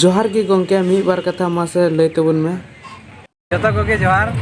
ᱡᱚᱦᱟᱨ ᱜᱮ ᱜᱚᱝᱠᱮ ᱢᱤᱫ ᱵᱟᱨ ᱠᱟᱛᱷᱟ ᱢᱟᱥᱮ ᱞᱟᱹᱭ ᱛᱟᱵᱚᱱ ᱢᱮ ᱡᱚᱛᱚ ᱠᱚᱜᱮ ᱡᱚᱦᱟᱨ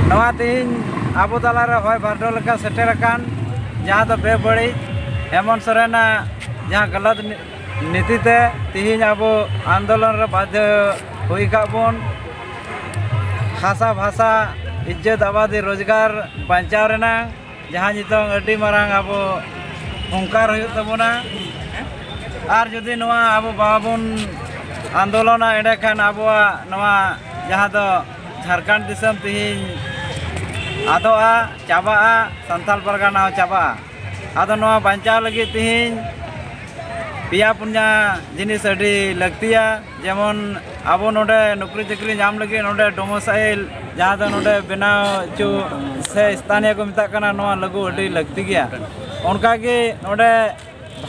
ᱱᱚᱣᱟ ᱛᱮᱦᱮᱧ ᱟᱵᱚ ᱛᱟᱞᱟᱨᱮ ᱦᱚᱭ ᱵᱷᱟᱨᱰᱚ ᱞᱮᱠᱟ ᱥᱮᱴᱮᱨ ᱟᱠᱟᱱ ᱡᱟᱦᱟᱸ ᱫᱚ ᱵᱮᱵᱟᱹᱲᱤᱡ ᱦᱮᱢᱚᱱ ᱥᱚᱨᱮᱱᱟᱜ ᱡᱟᱦᱟᱸ ᱜᱟᱞᱟᱛ ᱱᱤᱛᱤ ᱛᱮ ᱛᱮᱦᱮᱧ ᱟᱵᱚ ᱟᱱᱫᱳᱞᱚᱱ ᱨᱮ ᱵᱟᱫᱽᱫᱷᱚ ᱦᱩᱭ ᱟᱠᱟᱫ ᱵᱚᱱ ᱦᱟᱥᱟ ᱵᱷᱟᱥᱟ ᱤᱡᱽᱡᱚᱛ ᱟᱵᱟᱫᱤ ᱨᱳᱡᱽᱜᱟᱨ ᱵᱟᱧᱪᱟᱣ ᱨᱮᱱᱟᱜ ᱡᱟᱦᱟᱸ ᱱᱤᱛᱚᱝ ᱟᱹᱰᱤ ᱢᱟᱨᱟᱝ ᱟᱵᱚ ᱦᱚᱝᱠᱟᱨ ᱦᱩᱭᱩᱜ ᱛᱟᱵᱚᱱᱟ ᱟᱨ ᱡᱩᱫᱤ ᱱᱚᱣᱟ ᱟᱵᱚ ᱵᱟᱵᱚᱱ ᱟᱱᱫᱳᱞᱚᱱᱟ ᱮᱸᱰᱮᱠᱷᱟᱱ ᱟᱵᱚᱣᱟᱜ ᱱᱚᱣᱟ ᱡᱟᱦᱟᱸ ᱫᱚ ᱡᱷᱟᱲᱠᱷᱚᱸᱰ ᱫᱤᱥᱚᱢ ᱛᱮᱦᱮᱧ ᱟᱫᱚᱜᱼᱟ ᱪᱟᱵᱟᱜᱼᱟ ᱥᱟᱱᱛᱟᱲ ᱯᱟᱨᱜᱟᱱᱟ ᱦᱚᱸ ᱪᱟᱵᱟᱜᱼᱟ ᱟᱫᱚ ᱱᱚᱣᱟ ᱵᱟᱧᱪᱟᱣ ᱞᱟᱹᱜᱤᱫ ᱛᱮᱦᱮᱧ ᱯᱮᱭᱟ ᱯᱩᱱᱭᱟ ᱡᱤᱱᱤᱥ ᱟᱹᱰᱤ ᱞᱟᱹᱠᱛᱤᱭᱟ ᱡᱮᱢᱚᱱ ᱟᱵᱚ ᱱᱚᱰᱮ ᱱᱚᱠᱨᱤ ᱪᱟᱹᱠᱨᱤ ᱧᱟᱢ ᱞᱟᱹᱜᱤᱫ ᱱᱚᱰᱮ ᱰᱚᱢᱚᱥᱟᱭᱤᱞ ᱡᱟᱦᱟᱸ ᱫᱚ ᱱᱚᱰᱮ ᱵᱮᱱᱟᱣ ᱦᱚᱪᱚ ᱥᱮ ᱥᱛᱷᱟᱱᱤᱭᱚ ᱠᱚ ᱢᱮᱛᱟᱜ ᱠᱟᱱᱟ ᱱᱚᱣᱟ ᱞᱟᱹᱜᱩ ᱟᱹᱰᱤ ᱞᱟᱹᱠᱛᱤ ᱜᱮᱭᱟ ᱚᱱᱠᱟᱜᱮ ᱱᱚᱰᱮ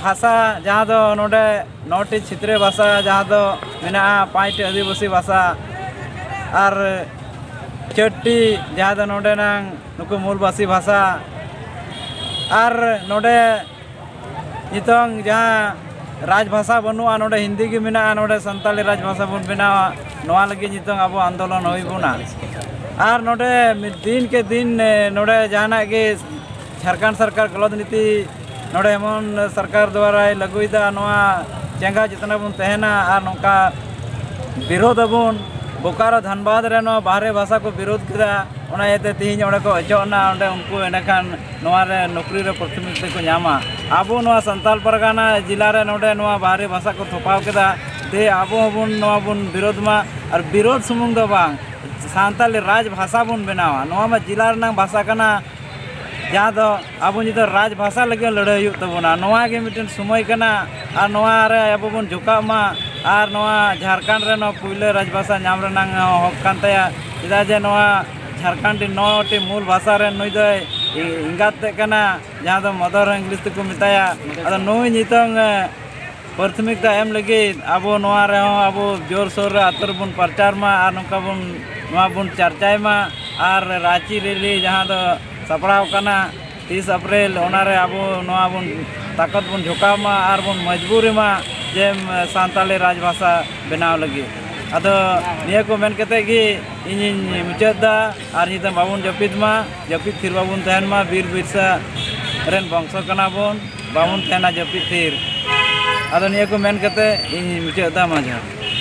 ᱵᱷᱟᱥᱟ ᱡᱟᱦᱟᱸ ᱫᱚ ᱱᱚᱰᱮ ᱱᱚᱴᱤ ᱪᱷᱤᱛᱨᱤ ᱵᱷᱟᱥᱟ ᱡᱟᱦᱟᱸ ᱫᱚ ᱢᱮᱱᱟᱜᱼᱟ ᱯᱟᱸᱪᱴᱤ ᱟᱹᱫᱤᱵᱟᱹᱥᱤ ᱵᱷᱟᱥᱟ ᱟᱨ ᱪᱟᱹᱴᱴᱤ ᱡᱟᱦᱟᱸ ᱫᱚ ᱱᱚᱰᱮᱱᱟᱝ ᱱᱩᱠᱩ ᱢᱩᱞᱵᱟᱹᱥᱤ ᱵᱷᱟᱥᱟ ᱟᱨ ᱱᱚᱰᱮ ᱱᱤᱛᱚᱝ ᱡᱟᱦᱟᱸ ᱨᱟᱡᱽ ᱵᱷᱟᱥᱟ ᱵᱟᱹᱱᱩᱜᱼᱟ ᱱᱚᱰᱮ ᱦᱤᱱᱫᱤ ᱜᱮ ᱢᱮᱱᱟᱜᱼᱟ ᱱᱚᱰᱮ ᱥᱟᱱᱛᱟᱲᱤ ᱨᱟᱡᱽ ᱵᱷᱟᱥᱟ ᱵᱚᱱ ᱵᱮᱱᱟᱣᱟ ᱱᱚᱣᱟ ᱞᱟᱹᱜᱤᱫ ᱱᱤᱛᱚᱝ ᱟᱵᱚ ᱟᱱᱫᱳᱞᱚᱱ ᱦᱩᱭ ᱵᱚᱱᱟ ᱟᱨ ᱱᱚᱰᱮ ᱫᱤᱱ ᱠᱮ ᱫᱤᱱ ᱱᱚᱰᱮ ᱡᱟᱦᱟᱱᱟᱜ ᱜᱮ ᱡᱷᱟᱲᱠᱷᱚᱸᱰ ᱥᱚᱨᱠᱟᱨ ᱜᱚᱞᱚᱛ ᱱᱤᱛᱤ ᱱᱚᱰᱮ ᱮᱢᱚᱱ ᱥᱚᱨᱠᱟᱨ ᱫᱚᱣᱟᱨᱟᱭ ᱞᱟᱹᱜᱩᱭᱮᱫᱟ ᱱᱚᱣᱟ ᱪᱮᱸᱜᱷᱟ ᱡᱚᱛᱱᱟ ᱵᱚᱱ ᱛᱟᱦᱮᱱᱟ ᱟᱨ ᱱᱚᱝᱠᱟ ᱵᱤᱨᱳᱫᱷ ᱟᱵᱚᱱ ᱵᱳᱠᱟᱨᱳ ᱫᱷᱟᱱᱵᱟᱫᱽ ᱨᱮ ᱱᱚᱣᱟ ᱵᱟᱦᱨᱮ ᱵᱷᱟᱥᱟ ᱠᱚ ᱵᱤᱨᱳᱫᱷ ᱠᱮᱫᱟ ᱚᱱᱟ ᱤᱭᱟᱹᱛᱮ ᱛᱮᱦᱮᱧ ᱚᱸᱰᱮ ᱠᱚ ᱚᱪᱚᱜ ᱮᱱᱟ ᱚᱸᱰᱮ ᱩᱱᱠᱩ ᱮᱸᱰᱮᱠᱷᱟᱱ ᱱᱚᱣᱟ ᱨᱮ ᱱᱚᱠᱨᱤ ᱨᱮ ᱯᱨᱚᱛᱤᱱᱤᱫᱷᱤ ᱠᱚ ᱧᱟᱢᱟ ᱟᱵᱚ ᱱᱚᱣᱟ ᱥᱟᱱᱛᱟᱲ ᱯᱟᱨᱜᱟᱱᱟ ᱡᱮᱞᱟ ᱨᱮ ᱱᱚᱰᱮ ᱱᱚᱣᱟ ᱵᱟᱦᱨᱮ ᱵᱷᱟᱥᱟ ᱠᱚ ᱛᱷᱚᱯᱟᱣ ᱠᱮᱫᱟ ᱛᱮ ᱟᱵᱚ ᱦᱚᱸᱵᱚᱱ ᱱᱚᱣᱟ ᱵᱚᱱ ᱵᱤᱨᱳᱫᱷ ᱢᱟ ᱟᱨ ᱵᱤᱨᱳᱫᱷ ᱥᱩᱢᱩᱝ ᱫᱚ ᱵᱟᱝ ᱥᱟᱱᱛᱟᱲᱤ ᱨᱟᱡᱽ ᱵᱷᱟᱥᱟ ᱵᱚᱱ ᱵᱮᱱᱟᱣᱟ ᱱᱚᱣᱟ ᱢᱟ ᱡᱮᱞᱟ ᱨᱮᱱᱟᱜ ᱵᱷᱟᱥᱟ ᱠᱟᱱᱟ ᱡᱟᱦᱟᱸ ᱫᱚ ᱟᱵᱚ ᱱᱤᱛᱚᱜ ᱨᱟᱡᱽ ᱵᱷᱟᱥᱟ ᱞᱟᱹᱜᱤᱫ ᱦᱚᱸ ᱞᱟᱹᱲᱦᱟᱹᱭ ᱦᱩᱭᱩᱜ ᱛᱟᱵᱚᱱᱟ ᱱᱚᱣᱟ ᱜᱮ ᱢᱤᱫᱴᱮᱱ ᱥᱚᱢᱚᱭ ᱠᱟᱱᱟ ᱟᱨ ᱱᱚᱣᱟ ᱨᱮ ᱟᱵᱚ ᱵᱚᱱ ᱡᱚᱴᱟᱜ ᱢᱟ ᱟᱨ ᱱᱚᱣᱟ ᱡᱷᱟᱲᱠᱷᱚᱸᱰ ᱨᱮ ᱱᱚᱣᱟ ᱯᱳᱭᱞᱳ ᱨᱟᱡᱽ ᱵᱷᱟᱥᱟ ᱧᱟᱢ ᱨᱮᱱᱟᱜ ᱦᱚᱸᱠ ᱠᱟᱱ ᱛᱟᱭᱟ ᱪᱮᱫᱟᱜ ᱡᱮ ᱱᱚᱣᱟ ᱡᱷᱟᱲᱠᱷᱚᱸᱰ ᱨᱮ ᱱᱚᱴᱤ ᱢᱩᱞ ᱵᱷᱟᱥᱟ ᱨᱮ ᱱᱩᱭ ᱫᱚ ᱮᱸᱜᱟᱛ ᱛᱮᱫ ᱠᱟᱱᱟ ᱡᱟᱦᱟᱸ ᱫᱚ ᱢᱚᱫᱚᱨ ᱤᱝᱞᱤᱥ ᱛᱮᱠᱚ ᱢᱮᱛᱟᱭᱟ ᱟᱫᱚ ᱱᱩᱭ ᱱᱤᱛᱚᱝ ᱯᱨᱟᱛᱷᱚᱢᱤᱠᱛᱟ ᱮᱢ ᱞᱟᱹᱜᱤᱫ ᱟᱵᱚ ᱱᱚᱣᱟ ᱨᱮᱦᱚᱸ ᱟᱵᱚ ᱡᱳᱨ ᱥᱳᱨ ᱨᱮ ᱟᱹᱛᱩ ᱨᱮᱵᱚᱱ ᱯᱨᱚᱪᱟᱨ ᱢᱟ ᱟᱨ ᱱᱚᱝᱠᱟ ᱵᱚᱱ ᱱᱚᱣᱟ ᱵᱚᱱ ᱪᱟᱨᱪᱟᱭ ᱢᱟ ᱟᱨ ᱨᱟᱺᱪᱤ ᱨᱮᱞᱤ ᱡᱟᱦᱟᱸ ᱫᱚ ᱥᱟᱯᱲᱟᱣ ᱠᱟᱱᱟ ᱛᱤᱥ ᱟᱯᱨᱮᱞ ᱚᱱᱟᱨᱮ ᱟᱵᱚ ᱱᱚᱣᱟ ᱵᱚᱱ ᱛᱟᱠᱚᱛ ᱵᱚᱱ ᱡᱷᱚᱠᱟᱣ ᱢᱟ ᱟᱨ ᱵᱚᱱ ᱢᱚᱡᱽᱵᱩᱨᱤ ᱢᱟ ᱡᱮ ᱥᱟᱱᱛᱟᱲᱤ ᱨᱟᱡᱽ ᱵᱷᱟᱥᱟ ᱵᱮᱱᱟᱣ ᱞᱟᱹᱜᱤᱫ ᱟᱫᱚ ᱱᱤᱭᱟᱹ ᱠᱚ ᱢᱮᱱ ᱠᱟᱛᱮᱫ ᱜᱮ ᱤᱧᱤᱧ ᱢᱩᱪᱟᱹᱫ ᱮᱫᱟ ᱟᱨ ᱧᱤᱫᱟᱹ ᱵᱟᱵᱚᱱ ᱡᱟᱹᱯᱤᱫ ᱢᱟ ᱡᱟᱹᱯᱤᱫ ᱛᱷᱤᱨ ᱵᱟᱵᱚᱱ ᱛᱟᱦᱮᱱ ᱢᱟ ᱵᱤᱨ ᱵᱤᱨᱥᱟ ᱨᱮᱱ ᱵᱚᱝᱥᱚ ᱠᱟᱱᱟ ᱵᱚᱱ ᱵᱟᱵᱚᱱ ᱛᱟᱦᱮᱱᱟ ᱡᱟᱹᱯᱤᱫ ᱛᱷᱤᱨ ᱟᱫᱚ ᱱᱤᱭᱟᱹ ᱠᱚ ᱢᱮᱱ ᱠᱟᱛᱮᱫ ᱤᱧ ᱢᱩᱪᱟᱹᱫ ᱮᱫᱟ ᱢᱟ ᱡᱚᱦᱟᱨ